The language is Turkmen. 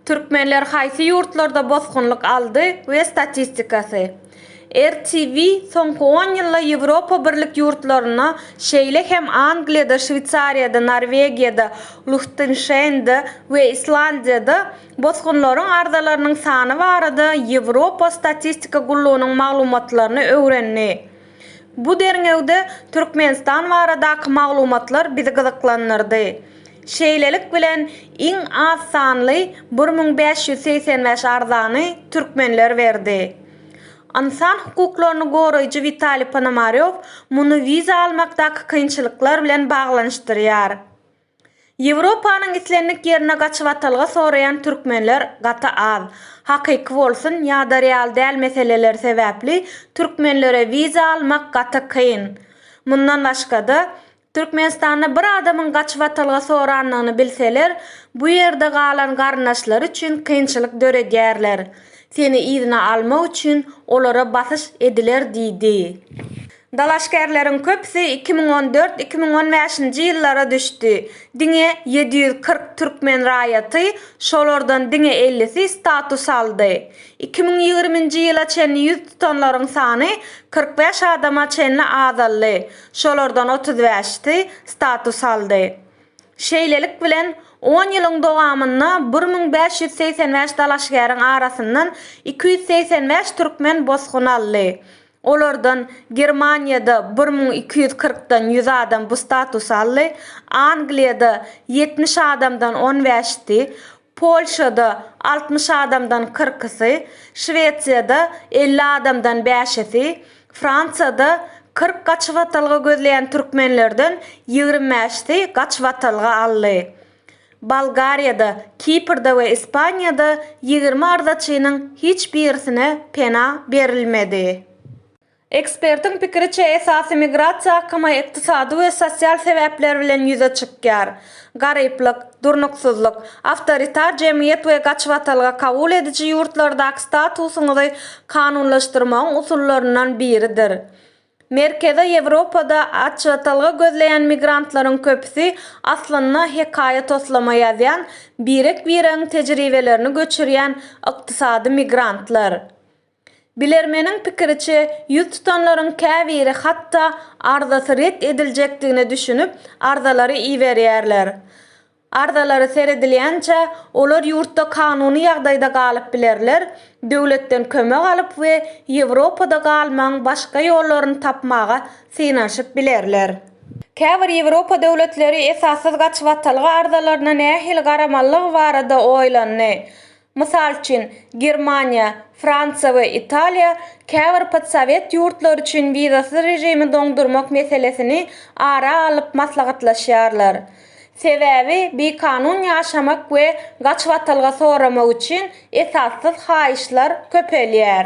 Türkmenler haýsy ýurtlarda bosgunlyk aldy we statistikasy. Rtw soňky on ýylda Ýewropa Birlik ýurtlarynda, şeýle hem Angliýada, Şweýsariýada, Norwegiýada, Luhtenşeýnde we Islandiýada bosgunlaryň arzalarynyň sany barada Ýewropa Statistika gullugynyň maglumatlaryny öwrendi. Bu derňewde Türkmenistan baradaky maglumatlar bizi gyzyklandyrdy. Şeýlelik bilen, iň az sanly bir müň bäş ýüz segsen bäş arzany türkmenler berdi. Ynsan hukuklaryny goraýjy Witaliý Ponomarýow muny wiza almakdaky kynçylyklar bilen baglanyşdyrýar. Ýewropanyň islendik ýerine gaçyp atalga soraýan türkmenler gaty az. Hakyky bolsun ýa-da real däl meseleler sebäpli türkmenlere wiza almak gaty kyn. Mundan başga-da, Türkmenistanda bir adamyň gaçyp atalga sorandygyny bilseler, bu ýerde galan garyndaşlary üçin kynçylyk döredýärler. Seni yzyna almak üçin olara basyş ediler diýdi. Dalaşgärleriň köpüsi iki müň on dört-iki müň on bäşinji ýyllara düşdi. Diňe ýedi ýüz kyrk türkmen raýaty, şolardan diňe ellisi status aldy. Iki müň ýigriminji ýyla çenli ýüz tutanlaryň sany kyrk bäş adama çenli azaldy, şolardan otuz bäşisi status aldy. Şeýlelik bilen, on ýylyň dowamynda bir müň bäş ýüz segsen bäş dalaşgäriň arasyndan iki ýüz segsen bäş türkmen bosgun aldy. Olardan Germaniýada bir müň iki ýüz kyrkdan ýüz adam bu statusy aldy, Angliýada ýetmiş adamdan on bäşisi, Polşada altmyş adamdan kyrkysy, Şwesiýada elli adamdan bäşisi, Fransiýada kyrk gaçybatalga gözleýän türkmenlerden ýigrimi bäşisi gaçybatalga aldy. Bolgariýada, Kiprde we Ispaniýada ýigrimi arzaçynyň hiç birisine pena berilmedi. Ekspertiň pikiriçe, esasy migrasiýa akymy ykdysady we sosial sebäpler bilen ýüze çykýar. Garyplyk, durnuksyzlyk, awtoritar jemgyýet we gaçybatalga kabul ediji ýurtlardaky statusyňyzy kanunlaşdyrmagyň usullaryndan biridir. Merkezi Ýewropada açjatalga gözleýän migrantlaryň köpüsi aslynda hekaýa-toslama ýazýan, birek-biregiň tejribelerini göçürýän ykdysady migrantlar. Bilermeniň pikiriçe, ýüz tutanlaryň käbiri hatda arzasy ret ediljekdigine düşünip, arzalary iberýärler. Arzalara seredilýänçä, olar ýurtda kanuny ýagdaýda galyp bilerler, döwletden kömek alyp we Ýewropada galmagyň başga ýollaryny tapmaga synanyşyp bilerler. Käbir Ýewropa döwletleri esassyz gaçybatalga arzalaryna nähili garamalydygy barada oýlandy. Mysal üçin, Germaniýa, Fransiýa we Italiýa käbir podsowet ýurtlary üçin wizasyz režimi doňdurmak meselesini ara alyp maslahatlaşýarlar. Sebäbi bikanun ýaşamak we gaçybatalga soramak üçin esassyz haýyşlar köpelýär.